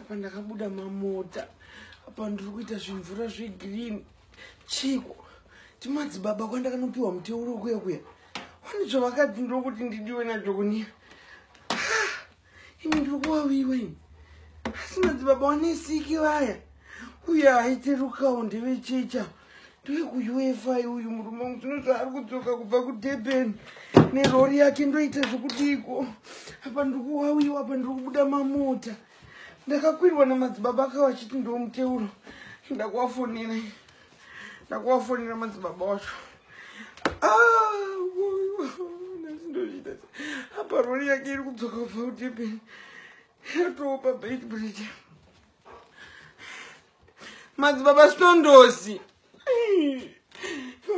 apa ndakabuda mamota apa ndiri kuita zvimvura zvegreen chiko timadzibaba kwandakanopiwa muteuro kuya kuya wani zvavakadzi ndiri kuti ndidiwe najokonira ah, ini ndiri kuwawiwa ini asi madzibaba wanesiki vaya uye aiterukawo ndevechecha ndoyekuuefa uyu murume wangu zvino zvaari kudzoka kubva kudurban nerori yake ndoita zvekudiiko apa ndiri kuwawiwa apa ndiri kubuda mamota ndakakwirwa namadzibaba aka vachiti ndiwo muteuro ndakuvafonera ndakuvafonera madzibaba wacho ndozviita apa rori yake iri kudzoka kubva kudurban yatopa bait bridge madzibaba stondosi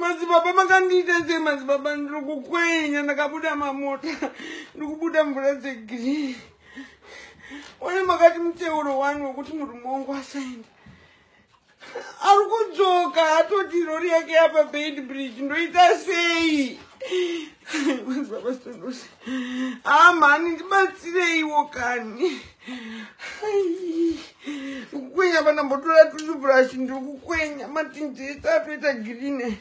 madzibaba makandiita sei madzibaba ndiri kukwenya ndakabuda mamota ndiri kubuda mvura dzegreen one makati muteuro wani wekuti murume wangu asaenda ari kudzoka atoti rori yake yapa band bridge ndoita sei amhani ah, ndibatsireiwo kani kukwenya vana mbotora tuchuburashi ndiri kukwenya matinjeta atoita girine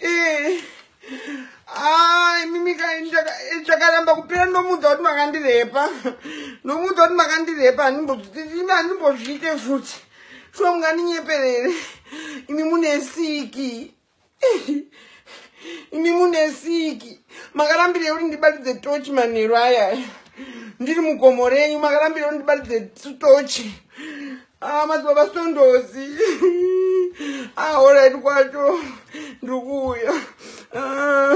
ee eh. Ah, imimi chakaramba kupera ndomuudza kuti makandirepa ndomuudza kuti makandirepa handimbozviite futi shuwa mungandinyeperere imi mune siki imi mune siki makarambirei kuti ndibatidze tochi manheru aya ndiri mugomo renyu makarambirei kuti ndibatidze tochi Ah, madzibaba sitondozi ahoraiti ah, kwacho ndikuuya ah.